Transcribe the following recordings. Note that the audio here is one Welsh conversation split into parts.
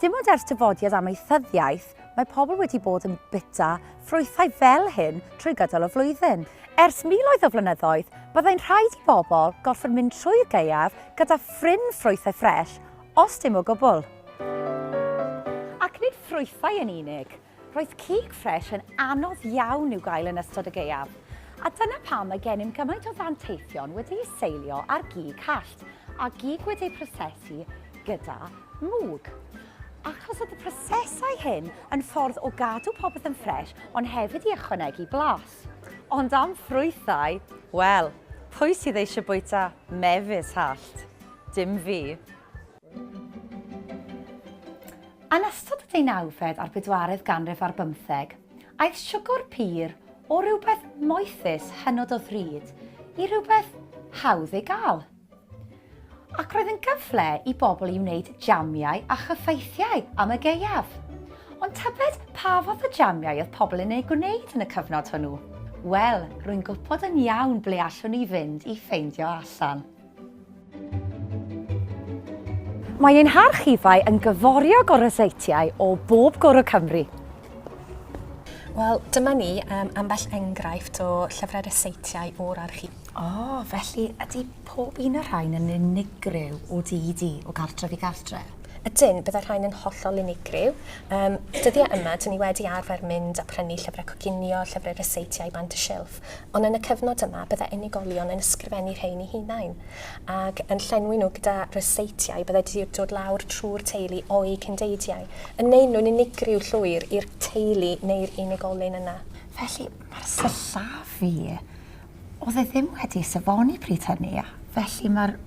Dim ond ers dyfodiad amaethyddiaeth, mae pobl wedi bod yn bwyta ffrwythau fel hyn trwy gydol y flwyddyn. Ers miloedd o flynyddoedd, byddai'n rhaid i bobl gorfod mynd trwy'r gaeaf gyda phryn ffrwythau ffres, os dim o gwbl. Ac nid ffrwythau yn unig, Roedd cig ffres yn anodd iawn i'w gael yn ystod y gaeaf, a dyna pam mae gennym gymaint o ddanteithion wedi'u seilio ar gig hallt a gig wedi'u prosesu gyda mwg. Achos oedd y prosesau hyn yn ffordd o gadw popeth yn ffres ond hefyd i ychwanegu blas. Ond am ffrwythau, wel, pwy sydd eisiau bwyta mefus hallt? Dim fi. Yn ystod y deunawfed a'r bedwaredd ganrif ar bymtheg, aeth siwgr pur o rywbeth moethus hynod o ddrud i rywbeth hawdd ei gael. Ac roedd yn gyfle i bobl i wneud jamiau a chyffaithiau am y gaeaf. Ond tybed pa fath o jamiau oedd pobl yn eu gwneud yn y cyfnod hwnnw? Wel, rwy'n gwybod yn iawn ble allwn ni fynd i ffeindio allan. Mae ein harchifau yn gyforiog o ryseitiau o bob cwr o Cymru. Wel, dyma ni, um, ambell enghraifft o llyfrau ryseitiau o'r archif. O, oh, felly ydy pob un o'r rhain yn unigryw o di i di, o gartref i gartref? Ydyn, byddai rhain yn hollol unigryw. Um, dyddiau yma, dyn ni wedi arfer mynd a prynu llyfrau coginio, llyfrau ryseitiau bant y silff. Ond yn y cyfnod yma, byddai unigolion yn ysgrifennu rhein i hunain, ac yn llenwi nhw gyda ryseitiau byddai 'di dod lawr trwy'r teulu o'u cyndeidiau, yn neud nhw'n unigryw llwyr i'r teulu neu'r unigolyn yna. Felly, mae'r sillafu, oedd e ddim wedi safoni pryd hynny, a felly mae'r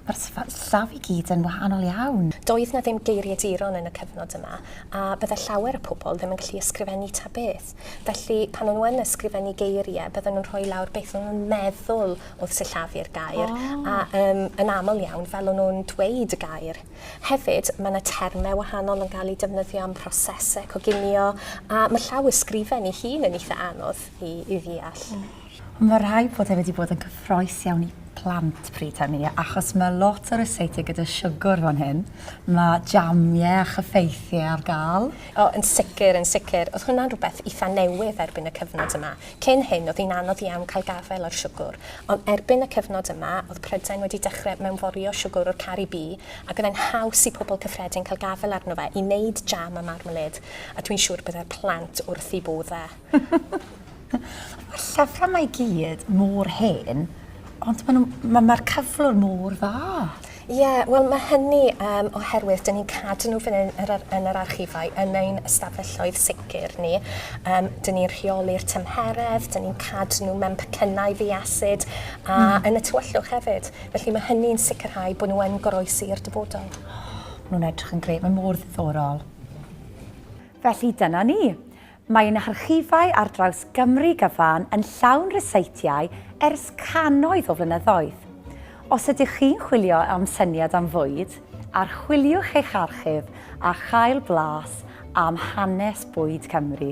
Mae'r sefyllfa i gyd yn wahanol iawn. Doedd 'na ddim geiriaduron yn y cyfnod yma, a bydde llawer o pobl ddim yn gallu ysgrifennu ta beth. Felly, pan o'n nhw yn ysgrifennu geirie, bydden nhw'n rhoi lawr beth o'n nhw'n meddwl oedd sillafu'r gair, a yym yn aml iawn, fel o'n nhw'n dweud y gair. Hefyd, mae 'na terme wahanol yn gael eu defnyddio am prosese coginio, a mae llawysgrifen ei hun yn eitha' anodd i i ddeall. Ond mae rhaid bod e wedi bod yn cyffroes iawn i plant pryd hynny, achos mae lot o ryseitiau gyda siwgr fan hyn, mae jamiau a chyffeithiau ar gael. O, yn sicr, yn sicr. Oedd hwnna'n rhywbeth eitha' newydd erbyn y cyfnod yma. Cyn hyn, oedd hi'n anodd iawn cael gafael ar siwgr, ond erbyn y cyfnod yma, oedd Prydain wedi dechrau mewnforio siwgr o'r Caribî, ac oedd e'n haws i pobl cyffredin cael gafael arno fe i wneud jam a marmalêd, a dwi'n siŵr y byddai'r plant wrth eu bodd e. Mae'r llyfrau mae i gyd mor hen, ond mae'r ma, ma cyflwr mor dda. Ie, yeah, wel mae hynny um, oherwydd dyn ni'n cadw nhw fan hyn yr, yn yr archifau, yn ein ystafelloedd sicr ni. Um, dyn ni'n rheoli'r tymheredd, dyn ni'n cadw nhw mewn pecynnau ddiasid a mm. yn y tywyllwch hefyd. Felly mae hynny'n sicrhau bod nhw yn goroesi i'r dyfodol. Oh, nhw'n edrych yn gred, mae mor ddiddorol. Felly dyna ni. Mae ein harchifau ar draws Gymru gyfan yn llawn ryseitiau ers cannoedd o flynyddoedd. Os ydych chi'n chwilio am syniad am fwyd, archwiliwch eich archif a chael blas am hanes bwyd Cymru.